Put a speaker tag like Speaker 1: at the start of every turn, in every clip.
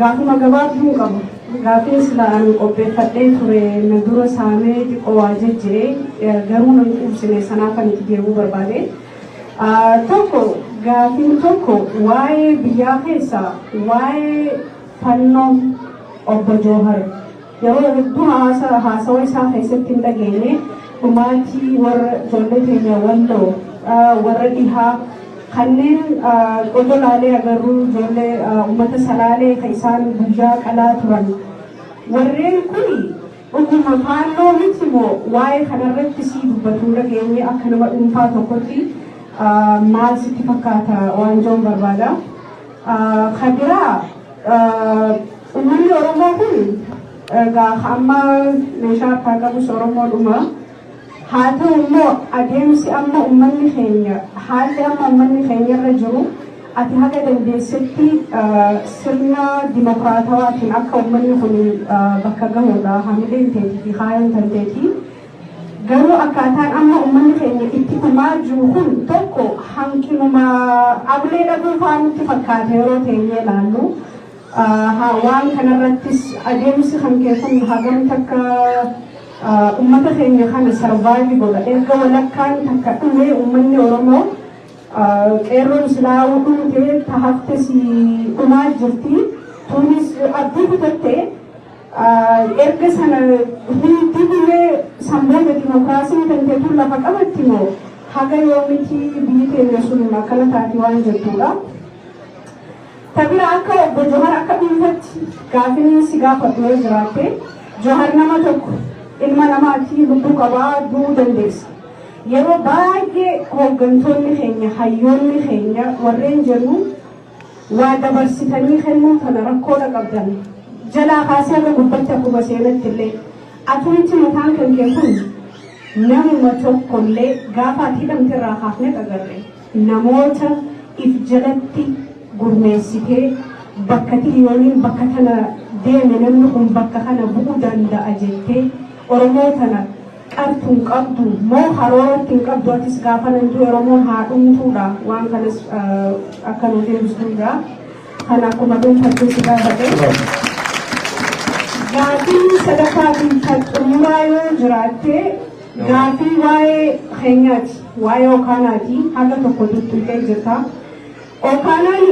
Speaker 1: Gaafuma gabaabduun qaba. Gaafiin sila ani qopheeffadhee ture na dura saamee xiqqoo waa jejjire garuu nan quubsine sanaaf ani itti deebi'uu barbaade. Tokko gaafiin tokko waa'ee biyyaa keessaa waa'ee fannoo obbo Joohar. Yeroo hedduu haasaa haasawa isaa keessatti hin dhageenye dhumaatii warra ijoollee teenya walloo warra dhihaa kanneen odoo laalee agarruu ijoollee uummata salaalee kan isaan guyyaa qalaa turan warreen kun dhuguma faalloo miti moo waa'ee kanarratti sii dubbatu hin dhageenye akka nama dhuunfaa tokkotti maal sitti fakkaata waan joon barbaada. Kan biraa Uummanni Oromoo kun egaa amma meeshaa harkaa qabus Oromoodhuma. Haa ta'u immoo adeemsi amma uummanni keenya haalli amma uummanni keenya irra jiru ati haga dandeessetti sirna dimokiraatawaatiin akka uummanni kun bakka gahudha hamileen teetii fi kaayyoon tanteetii. Garuu akkaataan amma ummanni keenya itti dhumaa jiru kun tokko hanqinuma ablee dhabuu fa'aa nutti fakkaata yeroo teenyee ilaallu. Waan kanarrattis adeemsi kan kee kun hagam takka ummata keenya kana sarvaayivi godha. Erga walakkaan takka dhumee ummanni Oromoo qeerroon silaa dhumtee tahaftes dhumaa jirti. Tuunis abdii kutatte. Erga sana dib illee san booda dimokiraasiin tante tun lafa qabatti moo haga yoomiti biyyi teenya sun akkana taati waan jettuudha. Ta bira akka obbo Johar akka dhuunfatti gaafini si gaafadhu yoo jiraatte Johar nama tokko ilma namaati lubbuu qabaa du'uu dandeessa. Yeroo baay'ee hooggantoonni keenya hayyoonni keenya warreen jennu Waa dabarsitanii kennuu tana rakkoodha qabdan. Jalaa kaasee haga gubbatti akkuma seenattillee atumti mataan kan kee kun namuma tokkollee gaafa ati hidhamte irraa kaafne agarre namoota if jalatti gurmeessitee bakka tiliyooniin bakka tana deeme namni kun bakka kana bu'uu danda'a jettee Oromoo tana Qartu hin qabdu mo karoorati hin qabdu atis gaafana hin due oromon haa dhumtuu dha waan kanas akka nu deebistuu dha kan akkuma dhunfachuu si gaafate gaafii sadaffaa fi kan xumuraa yoo jiraatte gaafii waa'ee keenyaati waa'ee okaanaati haga tokko tuttuqee jirta okaanaan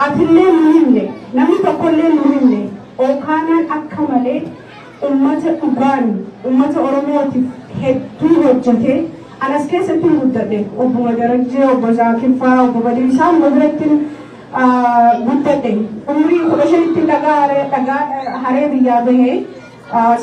Speaker 1: atillee nu himne namni tokkollee nu himne okaanaan akka malee Ummata dhugaan ummata Oromootiif hedduu hojjete. An as keessattin guddadhe. Obbuma Darajjee, Obbo Zaakir faa, Obbo Badiir isaanuma birattin guddadhe. Umrii 15ttin dhagaa dhagaa haree biyyaa bahe.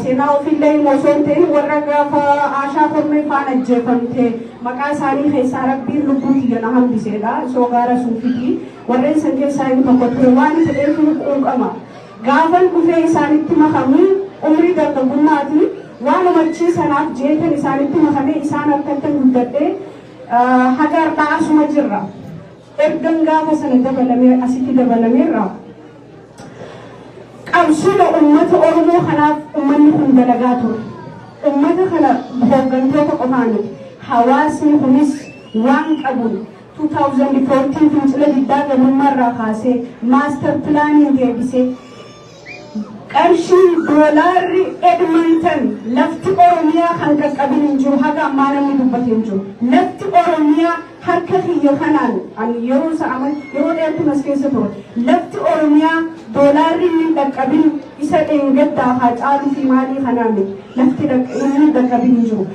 Speaker 1: Seenaa ofiillee himuu osoo hin ta'in warra gaafa Aashaa Kormee faan ajjeefamte maqaa isaanii keessaa Rabbiin lubbuu tiyya na hambiseedha. Soogaa Rasuufitii. Warreen san keessaa inni tokko ture. Waan fedheefuu quuqama. Gaafan dhufee isaanitti makamu umrii dargaggummaati. Waanuma achii sanaaf je'eetan isaanitti makame isaan harkattan guddadhe. Haga hardhaa asuma jirra. Ergan gaafa sana dabalame asitti dabalameerra. Qabsuma ummata Oromoo kanaaf ummanni kun dalagaa ture. Ummata kana hooggantoota qofaa miti. Hawaasni kunis waan qabuun. 2014 fincila diddaa gabummaa irraa kaasee maastar pilaaniin deebisee qarshiin doolaarri Edmonton lafti Oromiyaa kan qaqqabin hin jiru haga ammaa namni dubbate hin jiru. Lafti Oromiyaa harka kiyya kanaan ani yeroo isa ama yeroo dheertuun as keessa ture lafti Oromiyaa doolaarri inni hin dhaqqabin isa dheengaddaa haa caaluu fi maalii kanaa miti lafti dhaq- inni hin dhaqqabin hin jiru.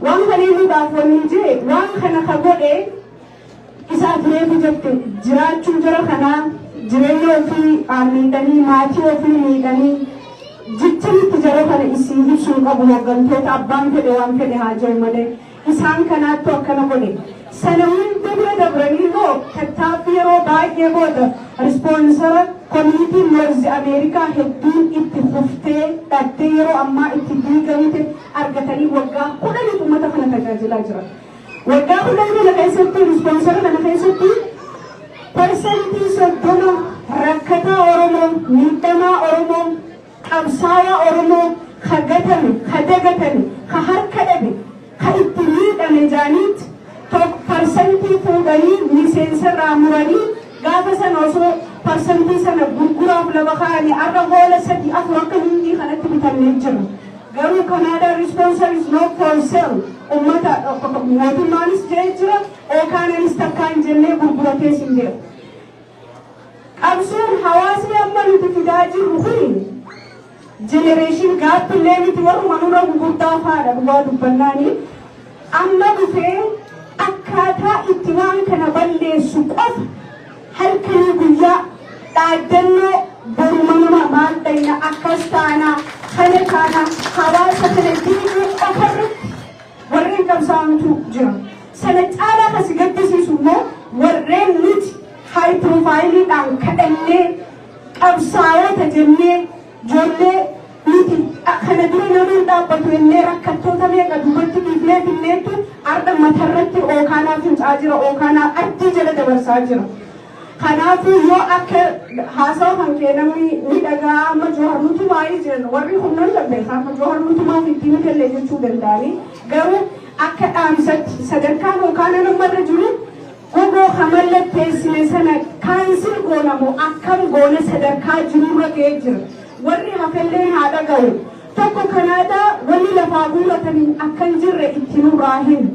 Speaker 1: Waan kanii lubaaf wanii jee waan kana ka godhee isaa tureefi jette jiraachuun jara kanaa jireenya ofii aa miidhanii maatii ofii miidhanii jicha mitti jara kana isii hibsuun qabu hoggantoota abbaan fedhe waan fedhe haa jeu malee isaan kanaattu akkana godhe Sana hunda bira dabranii immoo tattaaffii yeroo baay'ee booda rispoonsara komuniitiin Noorzi Ameerikaa hedduun itti fuftee dhattee yeroo ammaa itti diigamte argatanii waggaa kudhaniif uummata kana tajaajilaa jiran. Waggaa kudhan kana keessatti rispoonsara kana keessatti parsantii soddoma rakkataa Oromoo, miidhamaa Oromoo, Qabsaayaa Oromoo ka gatame, ka dagatame, ka harka dhabe, ka itti miidhame jaaniit tok parsantii fuudhanii miseensarraa muranii gaafa sana osoo parsantii sana gurguraaf lafa kaayanii arra hoola sadii afur akka hindii kanatti bitamnee jirra. Garuu Canada responsor is not for sale ummata mootummaanis ja'e jira, Okanaanis takkaa hin jennee gurguratees hin beeku. Qabsoon hawaasni amma nuti fidaa jirru kuni generation gap illee miti warruma nurra gugurdaa faadha dhugaa dubbannaani amma dhufee akkaataa itti waan kana balleessu qofa halkanii guyyaa dhaaddannoo boruma nama maal dhayna akkas taana kana taana hawaasa kana diiguu qofa irratti warreen qabsaa'antu jira. Sana caalaa kan si gaddisiisu immoo warreen nuti high profile dhaan kadhannee qabsaa'oota jennee ijoollee nuti kana dura nama hin dhaabbatu jennee rakkattoota meeqa duubatti dhiifnee finneettu har'a matarratti ookaanaa fincaa jira ookaanaa ardii jala dabarsaa jira. Kanaafuu yoo akka haasawa kan kee namni ni dhaga'a amma Jawhar nutumaa'ii jiran warri kun nan dandeessa amma Jawhar nutumaa miti miti illee jechuu danda'anii garuu akka dhaamsatti sadarkaa yookaan nama irra jiru gogoo kan mallatteessine sana kaansil goona moo akkam goona sadarkaa jirurra ga'ee jira warri hafelleen haa dhaga'u tokko kanaadaa wanni lafaa guurratanii akka hin jirre itti nurraa hin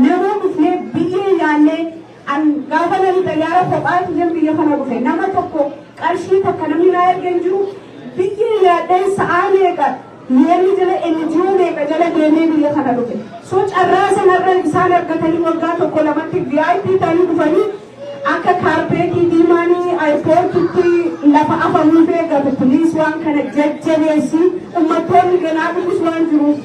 Speaker 1: namuu dhufnee biyyee yaannee An gaafa nani xayyaara kophaa kiyyeen biyya kana dhufe nama tokko qarshii takka namni naa erge hin jiru biyya yaadheen sa'aa meeqa yeelli jala NGO meeqa jala deemee biyya kana dhufe so carraa sanarra isaan argatanii waggaa tokko lamatti VIP ta'anii dhufanii akka kaarpeetii diimaanii airpoortitti lafa afamuuf eeggatu please waan kana jajjabeessi ummattoonni ganaa dhufus waan jiruuf.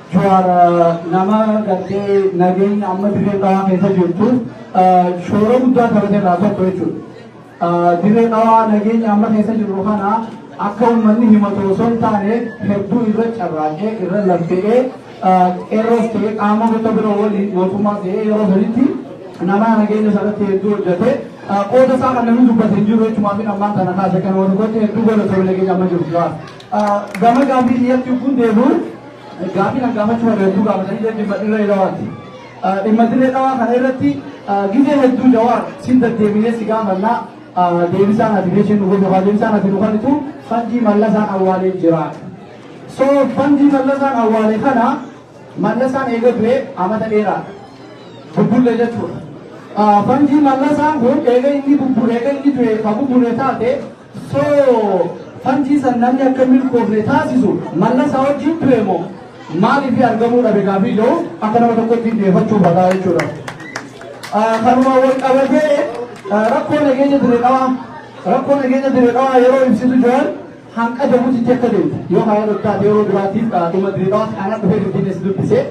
Speaker 2: Juwaar nama gartee nageenya amma dirree dhawaa keessa jirtu shoora guddaa taphate irraa tokko jechuudha. Dirree dhawaa nageenya amma keessa jirru kana akka uummanni himatu osoo hin taane hedduu irra carraaqee irra laffe'ee qeerroos ta'ee qaama gosa bira waliin mootummaa ta'ee yeroo sanitti nama nageenya sanatti hedduu hojjete qooda isaa kan namni dubbate hin jiru jechumaa fi ammaan kana kaase kan wal gote hedduu godhatu nageenya amma jiru jiraatu. Gama gaafii kiyyatti yogguun deebi'u gaafiin an gaafachuu barbaadu hedduu gaafatanii jedhu dhimma dirree dhawaati. Dhimma dirree dhawaa kana irratti gizee hedduu jawaar sin deddeebinee si gaafannaa deebisaan ati beeshin nu gosa deebisaan ati nu kennitu fanjii mallasaan awwaalee jira. So fanjii mallasaan awwaale kana mallasaan eega du'e amata dheeraa bubbullee jechuudha. Fanjii mallasaan kun eega inni bubbule eega inni du'e ka bubbule taate So fantii san namni akka milkoofne taasisu mallasa wajjin ture moo maaliif argamuu dhabe gaafii jiru akka nama tokkotti dhiyeeffachuu badaa jechuudha. Kanuma wal qabatee rakkoo nageenya dire dhawaa rakkoo nageenya dire dhawaa yeroo ibsitu jiran hanqa jabuutitti akka deemte yoo haala dhottaate yeroo duraatiif dhuma dire dhawaa kana dhufee finfinnee si dubbise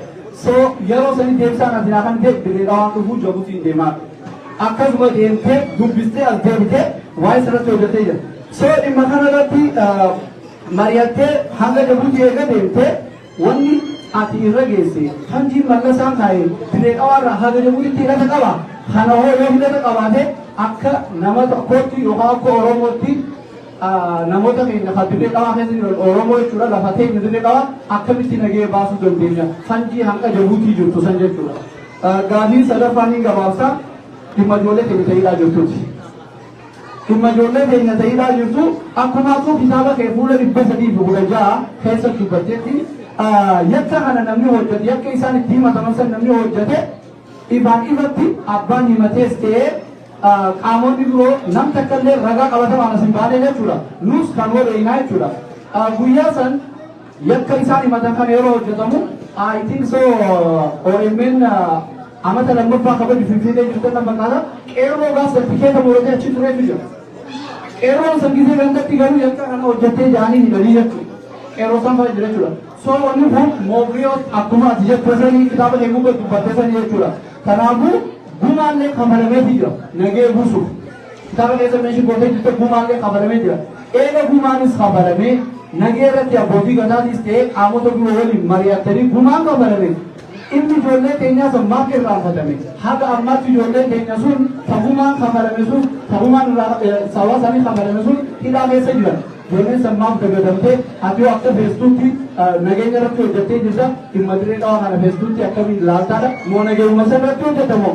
Speaker 2: so yeroo sanii deebisaan ati naa kan ta'e dire dhawaan dhufuu jabuutiin deemaa. akkasuma deemtee dubbistee as deebitee waa'ee sanatti hojjetee jira. So dhimma kana irratti mari'attee hanga Jabuutii eega deemtee wanni ati irra geesse hanji mallasaan kaa'e diree qabaarraa hanga Jabuutiitti hidhata qaba. Kana hoo yoo hidhata qabaate akka nama tokkootti yookaan akka Oromootti namoota keenya kan dirree qabaa keessa jiran Oromoo jechuudha lafa keenya dirree qabaa akkamitti nagee baasuu dandeenya hanji hanga Jabuutii jirtu san jechuudha. Gaafii sadaffaa niin gabaabsa. Dhimma ijoollee keenya ta hidhaa jirtuuti. Dhimma ijoollee keenya ta hidhaa jirtu akkuma atuu kitaaba kee fuula 316 keessa dubbattetti yakka kana namni hojjate yakka isaan itti himataman san namni hojjate ifaan ifatti abbaan himatees ta'ee qaamonni biroo nam takka illee ragaa qabatamaan as hin baanee jechuudha. Nus kan wareeynaa jechuudha. Guyyaa san Yakka isaan himatan kana yeroo hojjetamu I think so OMN amata lammaffaa kabaju Finfinnee jirtan nan fakkaata qeerroo gaaf san tikeeta muratee achi tureetu jira. Qeerroon san gisee gandatti garuu yakka kana hojjettee jaanii hidhanii jechuudha. Qeerroo san fa'aa jira jechuudha. So wanni kun Moobriyoos akkuma ati jettu sanii kitaaba kee gubbaa dubbatte sanii jechuudha. Kanaafuu gumaallee kafalameetii jira nagee buusuuf. Kitaaba keessa meeshaa gootee jirte gumaallee kafalamee jira. Eega gumaanis kafalamee nagee irratti abbootii gadaatiis ta'ee qaamota biroo waliin mari'attanii gumaan kafalame inni ijoollee keenyaa san maaf irraanfatame haga ammaatti ijoolleen keenya sun tagumaan kafalame sun tagumaan irraa sababa isaanii kafalame sun hidhaa keessa jira. Ijoolleen san maaf dagadamtee ati yoo akka feestuutti nageenya irratti hojjettee jirta dhimma dirree dhawaa kana feestuutti akkamiin laaltaadha moo nageenya irratti hojjetamoo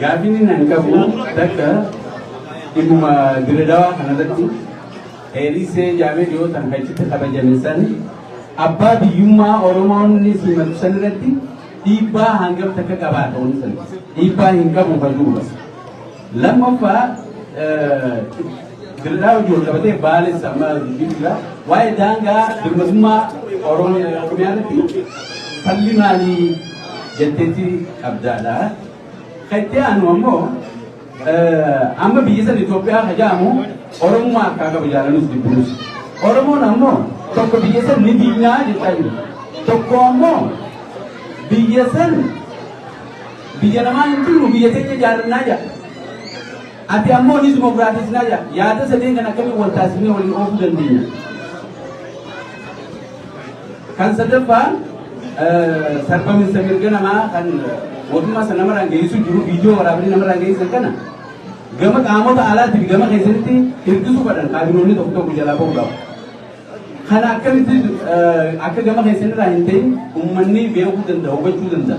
Speaker 3: Gaaffiin inni ani qabu takka dhimmuma diredawaa kanarratti heerisee jaamee dhiyootan kan itti kabajame san abbaa biyyummaa Oromoonni simatu san irratti dhiibbaa hangam takka qabaa ta'uun san dhiibbaa hin qabu kan duuba. Lammaffaa dirraa hojii wal qabatee baalis amma dubbiidha. Waa'ee daangaa dirmatummaa Oromiyaa irratti falli maalii jetteetti qabdaadha. Ka itti aanu ammoo amma biyya san Itoophiyaa ka jedhamu Oromummaa harkaa qaba jaalanus dibbiruus. Oromoon ammoo tokko biyya san ni diignaa jechaa jiru. Tokko ammoo biyya san biyya namaa hin jirru biyya teenya jaarannaa jedha. Ati ammoo ni dimokiraatisnaa jedha. Yaada sadeen kan akkamiin wal taasifnee waliin oofuu dandeenya. Kan sadaffaa sarbaminsa mirga namaa kan mootummaa sana namarraan geessisu jiru viidiyoo waraabanii namarraan geessisan kana gama qaamota alaatii fi gama keessanitti hirkisuu fadhan kaabinoonni tokko tokko jalaa ba'uu qaba. Kana akkamitti akka gama keessanirraa hin ta'in uummanni beekuu danda'a hubachuu danda'a.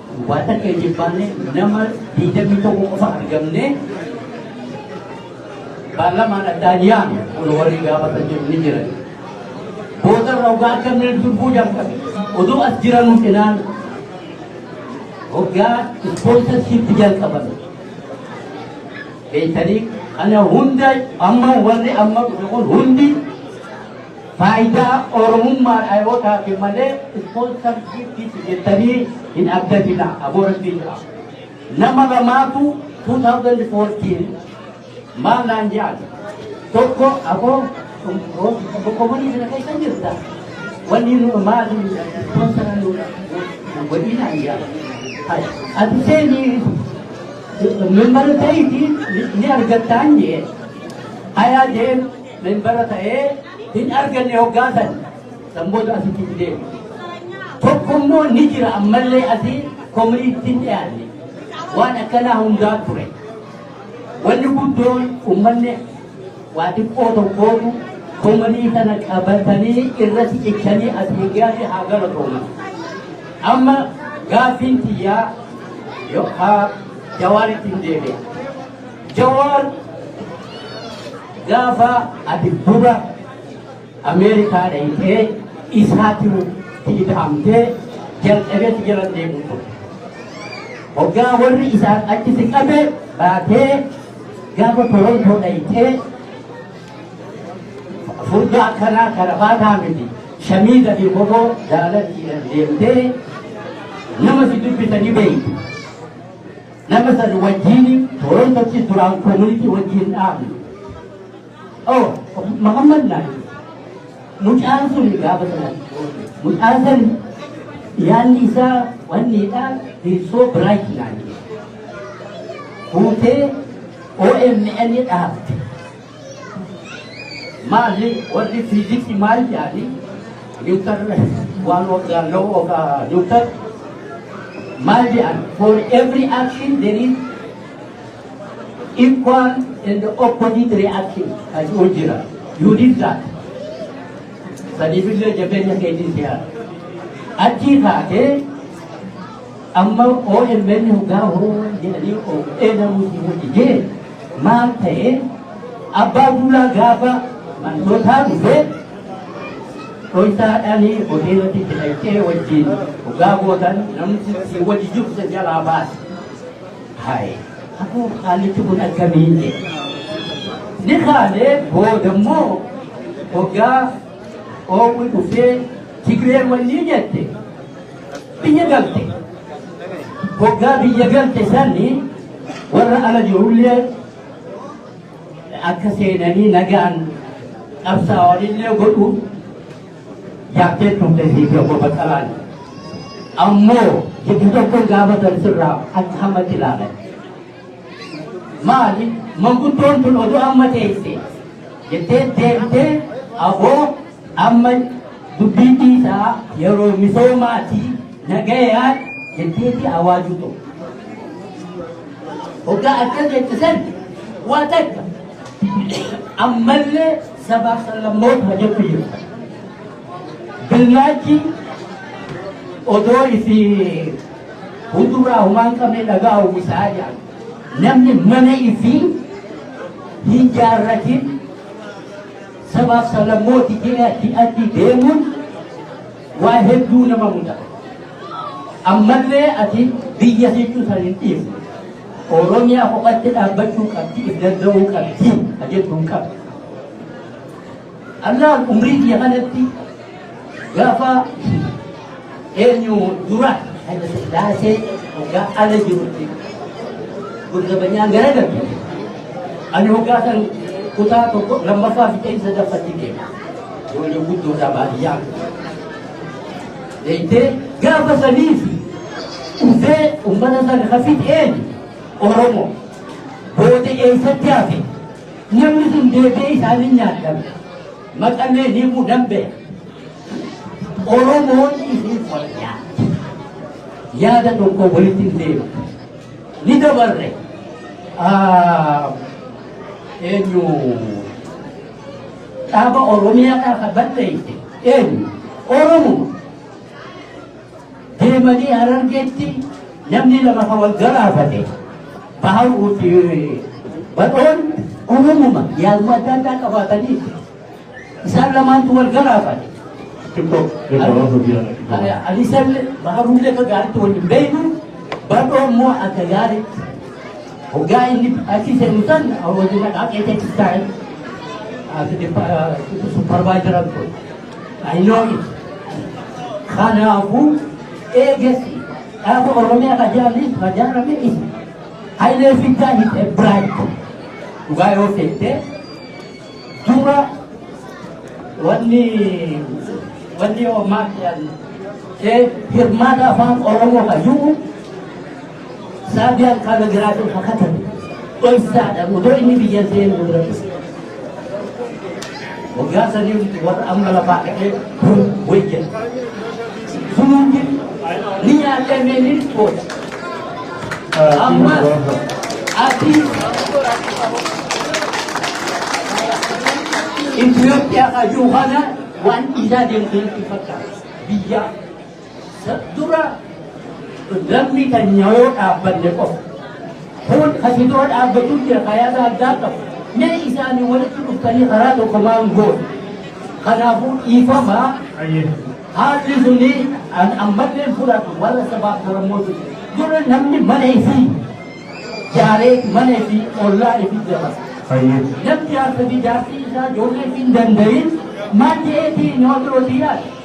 Speaker 4: Waa takka hin jibbaanne nama 21 qofa argamne paarlamaan addaa dhiyaame kun warri gaafatan jiru ni jiran. Booda irra ogaa akka inni durbuu jalqabe. Oduu as jiranuu cinaan ogaa ispoonsarsiitti jalqaban. Beektanii kana hunda amma warri amma kun hundi Faayidaa Oromummaa dhayootaafi malee sponsor shiptiif jettanii hin abdatina aboo rabbii jedha. Nama lamaatu 2014 maal naan jedhan tokko aboo boqomanii kana keessa jirta wanni nu maali sponsor nu godhii naan jedhan. Ati seenii mimbara ta'iitii ni argattaan jee ayaa jeen Membara ta'ee hin arganne hoggaa san san booda asitti itti deemu. Tokko immoo ni jira ammallee asii komuniitti hin dhiyaanne. Waan akkanaa hundaa ture. Wanni guddoon uummanni waa xiqqoo tokkootu komunii sana qabatanii irratti cichanii asii gaasi haa galatooman. Amma gaaffiin tiyyaa yookaan jawaaritti hin deebi'a. Jawaar gaafa ati dura Ameerikaa dhayitee isaatiru fiidhamtee jalqabeetti jala deemu ture. Hoggaa warri isaan achi si qabe baatee gaafa Torontoo dhayitee furdaa akkanaa kana baataa miti shamiiza fi kofoo jaalatti deemtee nama si dubbisanii beeytu. Nama san wajjiin Toorontottis duraan koomunitii wajjiin dhaabne. Oh, Mahammad naa mucaan sun gaafa sana mucaan san yaanni isaa wanniidhaa hirsoo biraayit naa fuutee OMN dhaabde. Maali warri fiiziksii maal jedhani niwutar waan waggaa loo waggaa niwutar maal jedhan for every action there is equal and opposite reaction kan jiru jira you did that sadiifillee jabeenya keetiin siyaa achii kaatee Amma omn hoggaa Oromoon jedhanii of eegaluu hin dhigee maal ta'ee abbaa duulaa gaafa mantootaa dhufee dhontaadhaanii hoteelatti itti dhaqxee wajjin hoggaa gootan namni si wajji jiru isa jalaa baase. Haye akkoo haallichi kun akkamiin jedhe. Ni kaanee booda immoo hoggaa oowwi dhufee Tigreen wannii jette biyya galte hoggaa biyya galte sanni warra ala jirullee akka seenanii nagaan qabsaa'anillee godhu yaaddee turte siifii obbo Baqqalaan ammoo jiddu tokkoon gaafatan sirraa akka hammatti ilaalan maali manguddoon tun oduu amma teesse jettee deemtee aboo Amma dubbii dhiisaa yeroo misoomaati nagayaan jetteeti awaajuu ta'u. Hoggaa akkas jette san waa takka ammallee sabaaf sablammoota hojjechuu jiru. Billaachi odoo ifi hunduraa humaan qabne dhagaa uwwisaa jira. Namni mana ifi hin jaarratin Sabaaf sablammooti keenya hidhatti deemuun waa hedduu nama mudata. Ammallee ati biyya jechuu san hin dhiifne. Oromiyaa kophatti dhaabbachuu qabdi, if danda'uu qabdi, ajechuun qabdi. Allaan umrii biyya kanatti Gaafa eenyu dura Hayila Sillaasee hoggaa ala jirutti gurgabanyaan gara darbe. Ani hoggaa san kutaa tokko lammaffaa fi ta'insa daffatti deema. Ijoollee guddoodhaa baadiyyaa. Deemtee gaafa saniif dhufee uummata sana hafit eenyu Oromoo booda eessatti hafe namni sun deebi'ee isaanii nyaadhabe. Maxxannee himuu dandeenya. Oromoon isin fayyaa. Yaada tokko walitti hin deemu. Ni dabarre. Ah, Eenyu dhaaba Oromiyaa dhaaba balleeyse eenyu Oromoo deemanii Harargeetti namni lama kan wal galaafate Baharuu fi Badhoon Oromuma yaaduma adda addaa qabaatanii isaan lamaantu wal galaafate. Alisan Baharuullee akka gaariitti wal hin beeknu Badhoo immoo akka gaariitti hoggaa inni achi seenu san wajjin dhaqaaqee teechisaa supparvaayizara ture. I know it. Kanaafuu eegessi dhaaba Oromiyaa ka jaallis ka jaalame isa. Hayilee Fidaa is a bright. Dhugaa yoo seente dura wanni wanni homaa jedhan hirmaata afaan Oromoo ka jiru Saabiyaan qaama jiraatee fakatame dhoksaadha odoo inni biyya seenu duratti. Waggaa sadii olitti warra amma lafaa ka'ee kun wayya. Sunuuti ni nyaatee mee ni dhiqoota. Ammas ati Itoophiyaa kan jiru kana waan dhiisaa deemtu natti fakkaata. Biyyaa Dura namni keenya yoo dhaabbanne qofa. Kun asitoo dhaabbachuu jira kayaasa addaa qabu. Mee isaanii walitti dhuftanii karaa tokko maan goone. Kanaafuu dhiifama haalli suni an ammallee fudhatu warra sabaaf sablammoota. Dura namni mana isii jaaree mana isii ollaa isii jabata. Namni jaarsa fi jaarsi isaa ijoollee isii hin danda'in maal ta'eetii nama birootii yaada.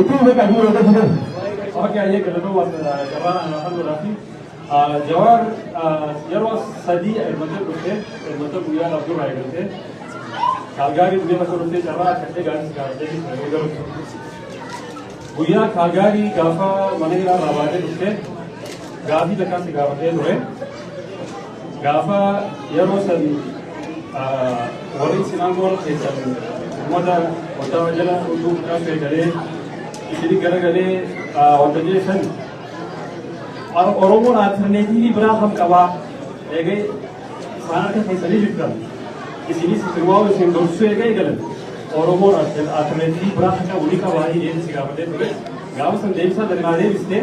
Speaker 5: Itti fufa qabu yoo ta'e fidan. Ok ayyee
Speaker 6: galatoo waan jabaa anaa kan godhaati. Jawaar yeroo sadii ermatee dhuftee ermatee guyyaa laf duraa eegaltee kaalgaarii guyyaa laf dhuftee carraa akka ta'e gaarii sigaa jedhi yeroo galtu. Guyyaa kaalgaarii gaafa mana hidhaa irraa baatee dhuftee gaafii takkaa si gaafatee ture. Gaafa yeroo san warri isin aangoon keessan uummata waggaa jala utuu kan beekalee isin garagalee wanta jeessan Oromoon alternatiivii biraa kan qabaa eegee isaan harka keessanii jirtan isinis isin waan isin gorsuu eegee galan Oromoon alternatiivii biraa kan qabu ni qabaa jedhee si gaafatee ture gaafa san deebisaa dandaatee bistee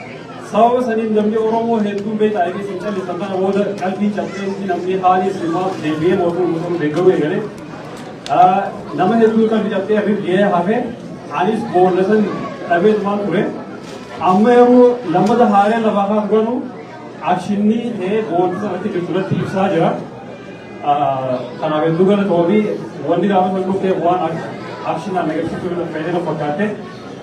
Speaker 6: Sababa saniin namni Oromoo hedduun beektaa eegee isin callisan kana booda qalbii cabseensi namni haalii islaamaa deebi'ee mootummaa Musliimaa deeggaruu eegale. Nama hedduu qalbii cabsee hir'ee hafe anis boolla san dhabee tumaan ture. Amma yeroo lammata haalee lafaa kan godhu akshinni ta'ee boolli sanatti jirtu irratti ibsaa jira. Kanaaf hedduu galatoomi wanni gaafa san dhufteef waan akshinaan agarsiisuu fayyadama fakkaatte.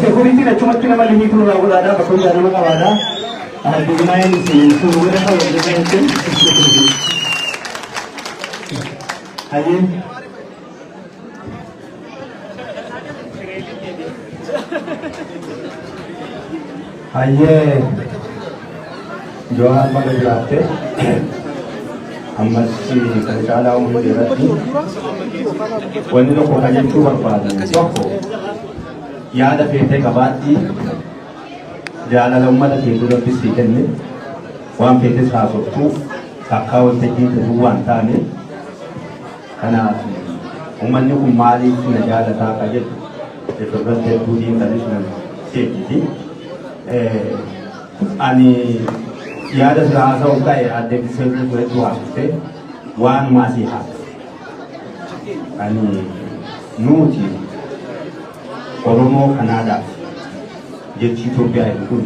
Speaker 5: Sekuritiin achumatti nama limii turu irraa godhaadhaa bakka hundaa nama qabaadhaa. Addunyaayeen sun warra ta'u hojjetan jechuun. Hayyee. Hayyee Jawaan mana jiraatte ammas kan caalaa umrii irratti wanni tokko kan jechuu barbaadu tokko yaada feetee qabaatti jaalala uummata kee duratti sii kenne waan feetes haasoftuuf takkaa waltajjii ta'uu waan taane Kanaaf ummanni kun maaliif na jaalataa ka jedhu irratti hedduu xiinxalisuun seejjiti. Ani yaada sira haasa'u ka'e adde Biseetuu turetti waamte waan maasii haasa. Ani nuti Oromoo Kanaadaaf jechi Itoophiyaa jedhu kun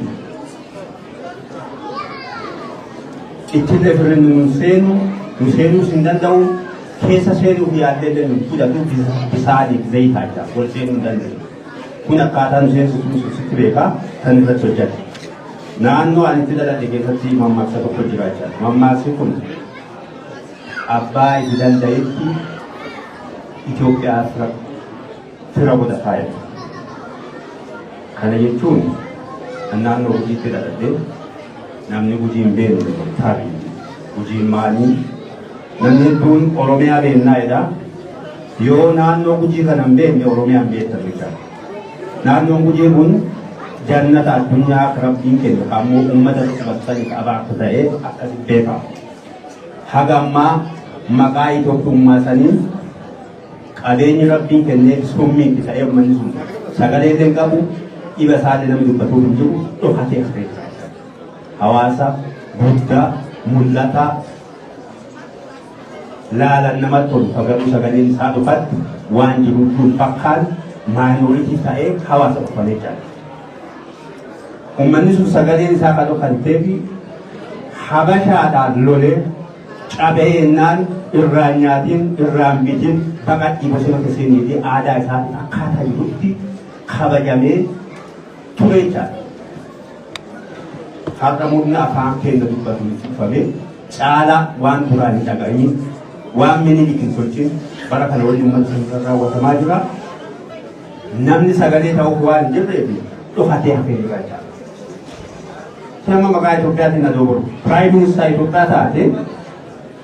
Speaker 5: Itti dabre nuun seenu nu seenuus hin danda'u keessa seenuuf yaaddee deemu fudhatu bisaaniif zayitaa jira wal seenuu hin danda'u. Kun akkaataa nu seensu kun sitti beekaa kan irratti hojjate. Naannoo ani itti dhaladhe keessatti mammaaksa tokko jira jira. Mammaaksi kun abbaa itti danda'etti Itoophiyaas rakkoo fira booda kaayatu. Kana jechuun kan naannoo Gujiitti dhalatee namni Gujii hin beekne taari. Gujiin maali? Namni hedduun Oromiyaa beeknaa jedha. Yoo naannoo Gujii kana hin beekne Oromiyaa hin beektan jecha. Naannoon Gujii kun
Speaker 3: jannata addunyaa akka rabbiin kennu kan ammoo uummata sifatanii qabaa akka ta'e akkasitti beekama. Haga ammaa maqaa Itoophiyummaa sanii Qabeenyi Rabbiin kenneef summiitti ta'ee ummanni sun sagalee illee hin qabu, dhiba isaa illee namni dubbatuuf hin jiru, dhokatee hafee jira. Hawaasa guddaa, mul'ataa, laalan namatti tolu kan garuu sagaleen isaa dhokatti waan jiru hin fakkaan maayinooritii ta'ee hawaasa dhokfamee jira. Ummanni sun sagaleen isaa kan dhokanteefi habashaadhaan lolee Cabee ennaan irraan nyaatiin irraan bitin baqadhii bosona keessanii fi aadaa isaatiin akkaataa jirutti kabajamee ture jechaadha. Har'a murni afaan keenya dubbatu cufamee caalaa waan duraan hin dhaga'in waan minilik hin tolchin bara kana waliin uummata sana raawwatamaa jira. Namni sagalee ta'uuf waan hin jirreef dhokatee hafee jira jechaadha. Nama maqaa Itoophiyaatiin na dogorgu. Piraayim Ministeera Itoophiyaa taate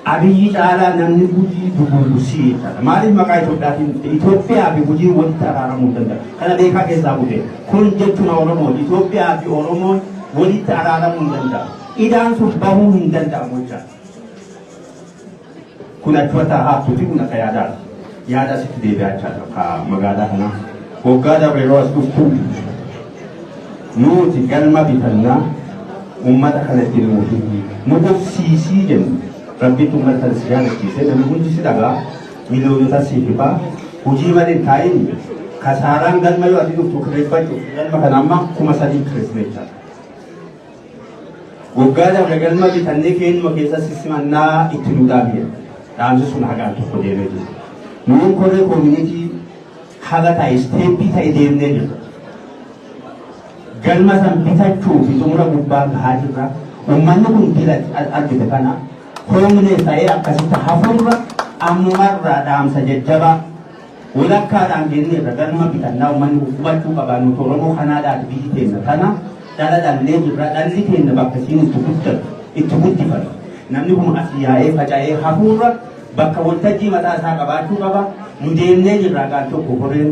Speaker 3: Abiyyi caalaa namni gujii dugullu sii taata. Maaliif maqaa Itoophiyaatiin Itoophiyaa fi gujii walitti araaramuu hin danda'u. Kana beekaa keessaa bu'e. Kun jechuun Oromoon Itoophiyaa fi Oromoon walitti araaramuu hin danda'u. Idaan sun bahuu hin danda'amu jechaadha. Kun achuma taa'aa hattuuti kun akka yaadaa yaadaa sitti deebi'aa jechaadha akka magaalaa kanaa. Waggaa dabre yeroo as dhuftu nuti galma bitannaa uummata kana itti nuuf nu qubsiisii jennu rabbiitti uummata kana si jaalachiisee namni hundi si dhagaa miliyoonota si hibaa hojii malee taa'in kasaaraan galma yoo ati dhuftu kireeffachuuf galma kana amma kuma sadii kireeffachuu jechaadha. Waggaa dabre galma bitannee keenyuma keessa sissimannaa itti nu dhaabne dhaamsi sun hagaan tokko deemee jiru. Nuun koree koomunitii haga ta'e isteeppii ta'e deemnee jirra. Galma san bitachuu fi xumura gubbaa gahaa jirra. Uummanni kun dila argite kana hoomnees ta'ee akkasitti hafuurra ammumarraa dhaamsa jajjabaa Wolakkaadhaan geenneerra galma bitannaa ummanni kun hubachuu qaba nuti Oromoo Kanaadaati biyyi teenna tana dhala dhallee jirra dhalli teenna bakka isiin itti guddatu itti guddifatu namni kun asii yaa'ee faca'ee hafuurra bakka woltajjii mataa isaa qabaachuu qaba nu deemnee jirraa gaal tokko koreen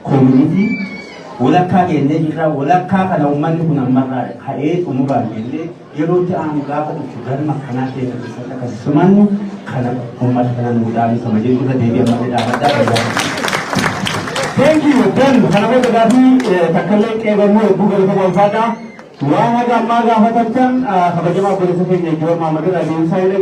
Speaker 3: koominitii wolakkaa geennee jirraa wolakkaa kana ummanni kun ammarraa ka'ee xumuraan geennee Yeroo itti aanu gaafa dhuftu galma akkanaa keenya keessatti akka simannu kana uummata kana nuu dhaabisama jechuudha deebii ammallee dhaabadhaa fayyadamu.
Speaker 5: Thank you, Ben. Kana booda gaafii takkallee qeebalmoo hedduu galatama ulfaadhaa. Waan haga ammaa gaafatamtan kabajamaa obboleessa keenya Joon Maammadin Adeemsaa hin dhageessu.